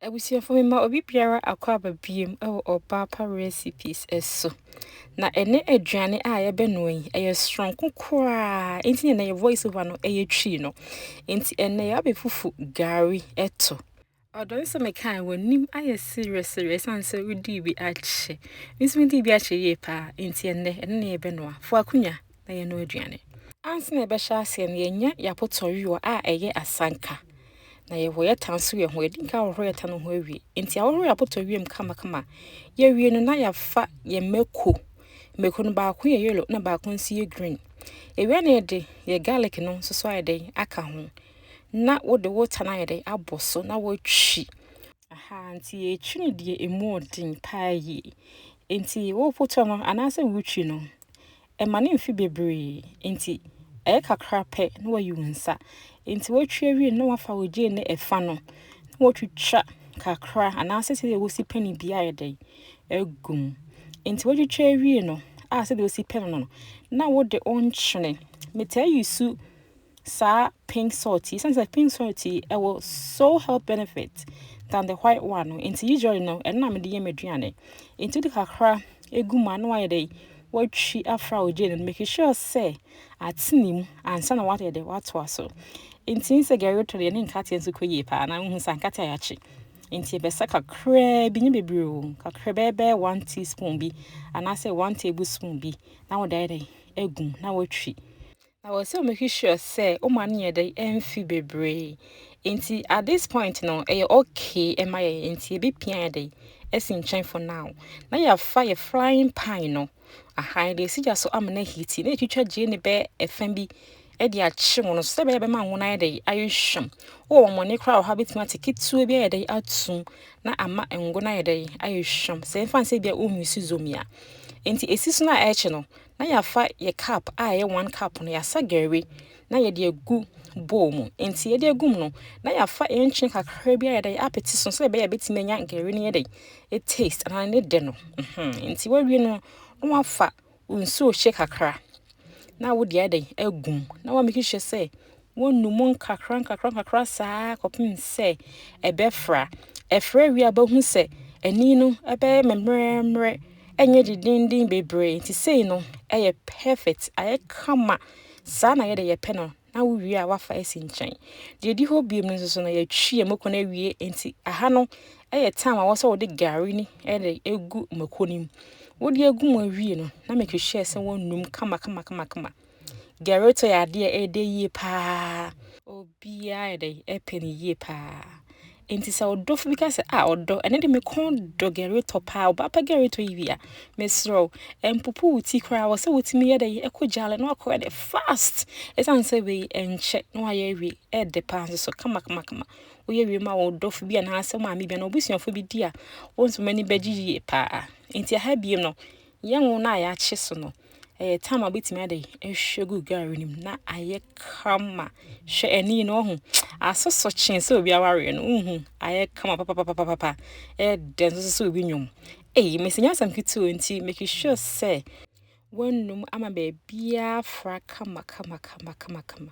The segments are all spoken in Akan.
Abusuafo, mema obi biara akwaaba biom wɔ Ɔbaapa Recipes so. Na ɛnɛ aduane a yɛbɛnoa yi, ɛyɛ soronko koraa, enti na yɛ voice over no yɛ twii no. Enti ɛnɛ yɛabɛfufu gari to. Ɔdɔ no sɛ mekae w'anim ayɛ serɛserɛ ɛsiane sɛ wodii bi akyɛ. Me nso medii bi akyɛ yie paa, enti ɛnɛ ɛno na yɛbɛnoa. Fo akonnwa. bɛyɛ no aduane. Ansa na yɛbɛhyɛ aseɛ no, yɛnya yɛn apotɔwewa a ɛyɛ asanka, na yɛhoyɛ ta nso yɛ ho. Yɛdi nka ahohoro yɛ ta no ho awie. Nti ahohoro yɛ apotɔwewa mu kamakama. Yɛwie no na yɛafa yɛn mako. Mako no baako yɛ yellow na baako nso yɛ green. Yɛwie na yɛde yɛ garlic no nso so ayɛ dɛn aka ho. Na wode wo ta no ayɛ dɛn abɔ so na watwi. Aha nti yɛtwi no deɛ emu ɔden paa yie. Nti wopotɔ no anaasɛ wotwi no, Ɛma no mfe bebree, enti ɛyɛ kakra pɛ na wayi wo nsa. Enti wotwi awie no na wafa ogye ne ɛfa no na wotwitwa kakra anaasɛ sɛdeɛ wosi pɛne bi ayɛ dɛn agu mu. Enti wotwitwa awie no a sɛdeɛ wosi pɛne no no na wode wo nkyene. Metaa yi su saa pink salt yi, sɛ pink salt yi ɛwɔ so health benefit than the white one no nti usually no ɛno na mede yɛ m'aduane nti wode kakra egu mu a na wayɛ dɛ watwi afra wo gye no make sure sɛ atene mu ansa na wayɛ dɛ watoa so nti sɛ gari tɔ deɛ ne nkateɛ nso kɔ yie paa na wohu sɛ nkateɛ a yɛakye nti ɛbɛsa kakraa bi nyɛ bebree o kakra bɛɛbɛɛ one teaspoon bi anaasɛ one tablespoon bi na wode ayɛ dɛ egum na watwi Na wɔ sɛ make sure sɛ woma no yɛ dɛ ɛmfi bebree nti at this point no ɛyɛ okay ɛma yɛ nti ebi pia yɛ dɛ ɛsi nkyɛn for now na yɛafa yɛ frying pan no aha yɛde asi gya so ama no ahiti na yɛtwitwa gyee ne bɛ ɛfa bi ɛde akye wo no sɛ bɛyɛ bɛma ngo no ayɛ dɛ ayɛ hwam wɔ wɔn mɔne koraa wɔ ha bɛtumi ate ketewa bi ayɛ dɛ atum na ama ngo no ayɛ dɛ ayɛ hwam sɛ ɛmfa nsɛ bi a wonwisi zomi a nti ɛsi so no a ɛkye no na yɛafa yɛ cup a ɛyɛ one cup no yɛasa gari na yɛde agu bowl mu nti yɛde agum no na yɛafa ɛnkyene kakra bi a yɛde apete so sɛ ɛbɛyɛ bɛtumi anya gari no yɛ dɛ e taste anaa ne dɛ no nti wawie no na wafa nsuo hyɛ kakra na wode ayɛ dɛ agum na wamake sure sɛ Wɔnu mu nkakrankakra saa ara kɔpem sɛ ɛbɛfra. Ɛfra wie a wobɛhu sɛ ani no ɛbɛyɛ mmerɛmmerɛ, ɛnyɛ dendenden bebree. Nti sei no ɛyɛ perfect, ayɛ kama. Saa na yɛde yɛpɛ no na wowie a wafa asi nkyɛn. Deɛ ɛdi hɔ biom no nso so no yɛtwi yɛn mako no awie. Nti aha no ɛyɛ time a wɔ sɛ wode gari ni ɛde egu mako no mu. Wode egu mu awie no na make sure sɛ wɔnum kama kama kama kama. Gerritto yɛ adeɛ a ɛyɛ dɛ yie paa. Obiara yɛ dɛ ɛpɛ no yie paa. Nti sɛ ɔdɔfo bi ka sɛ a ɔdɔ ɛne de me kɔn dɔ Gerritto paa ɔba pɛ Gerritto yi wia mesrɛ wo ɛmpopo wo ti koraa wɔ sɛ wotumi yɛ dɛ ɛkɔ gyaale na wakɔyɛ dɛ fast ɛsiane sɛ wei ɛnkyɛ na wayɛ awie ɛde paa nso so kama kama kama woyɛ wie ma wo dɔfo bi anaasɛ maame bi anaa obusuafo bi di a wɔn nso m'ani bɛgye yie paa nti aha biem no Yɛn ngo no a yɛakye so no, ɛyɛ tam a wobɛtumi ade ahwie gu gari no mu na ayɛ kama. Hwɛ ani no ɔho asoso kyee sɛ obi awareɛ no wohu ayɛ kama papapapapapa ɛyɛ dɛ nso sɛ obi nwom. Ei, mesi nyɛ asɛm ketewa nti make sure sɛ woanum ama baabiara fra kama kama kama kama kama.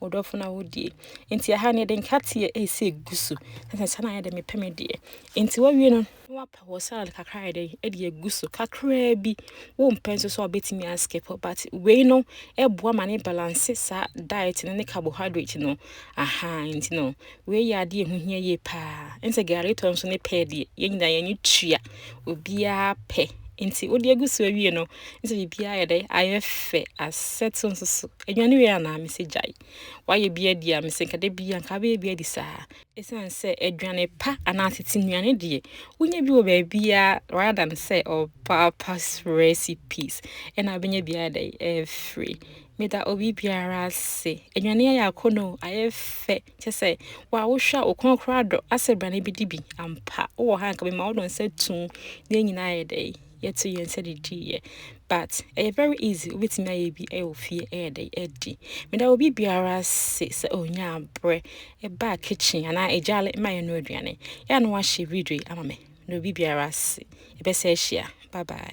wo dɔfo no awodie nti ɛha no yɛde nkateɛ ɛsɛ gu so sɛ sɛ na yɛde mepɛ me deɛ nti wawie no na wapɛ wɔ salad kakra yɛ dɛn ɛde agu so kakraa bi wompɛ nso sɛ ɔbɛtumi askip but wei no ɛboa ma ne balance saa diet no ne carbohydrate no aha nti no Wei yɛ adeɛ a ɛho hia yie paa. Ɛne sɛ gari tɔ nso ne pɛɛ deɛ, yɛn nyinaa yɛn ani tua. Obiara pɛ. Nti wode agu so awie no, ne sɛ biribiara yɛ dɛ, ayɛ fɛ, asɛto nso so. Aduane wei anaa mesɛ gyae. Wayɛ bi adi a mesɛ nka da bi a nka abɛyɛ bi adi saa. Ɛsiane sɛ aduane pa anaa tete nnuane deɛ, wonya bi wɔ baabiara rather than sɛ ɔpaapa recipes ɛna abɛnya bi ayɛ dɛ ɛfiri. Meda obi biara ase. Enuane ayɛ akɔnnɔ o, ayɛ fɛ. Kyɛ sɛ, wo a wohwɛ a, wo kɔn koraa adɔ. Asɛ bra na ibedi bi. Ampa, wowɔ ha a, anka mema wo no nsa tumm na yɛn nyinaa ayɛ dɛn? Yɛato yɛn nsa didiiɛ. But, ɛyɛ very easy, wobɛtumi ayɛ bi wɔ fie ayɛ dɛn? Adi. Meda obi biara ase sɛ ɔnyaa berɛ baa kitchen anaa egyaale ma yɛnoa aduane. Yɛ a na woahyɛ video yi ama me. Meda obi biara ase. Yɛbɛsan ahyia. Bye bye.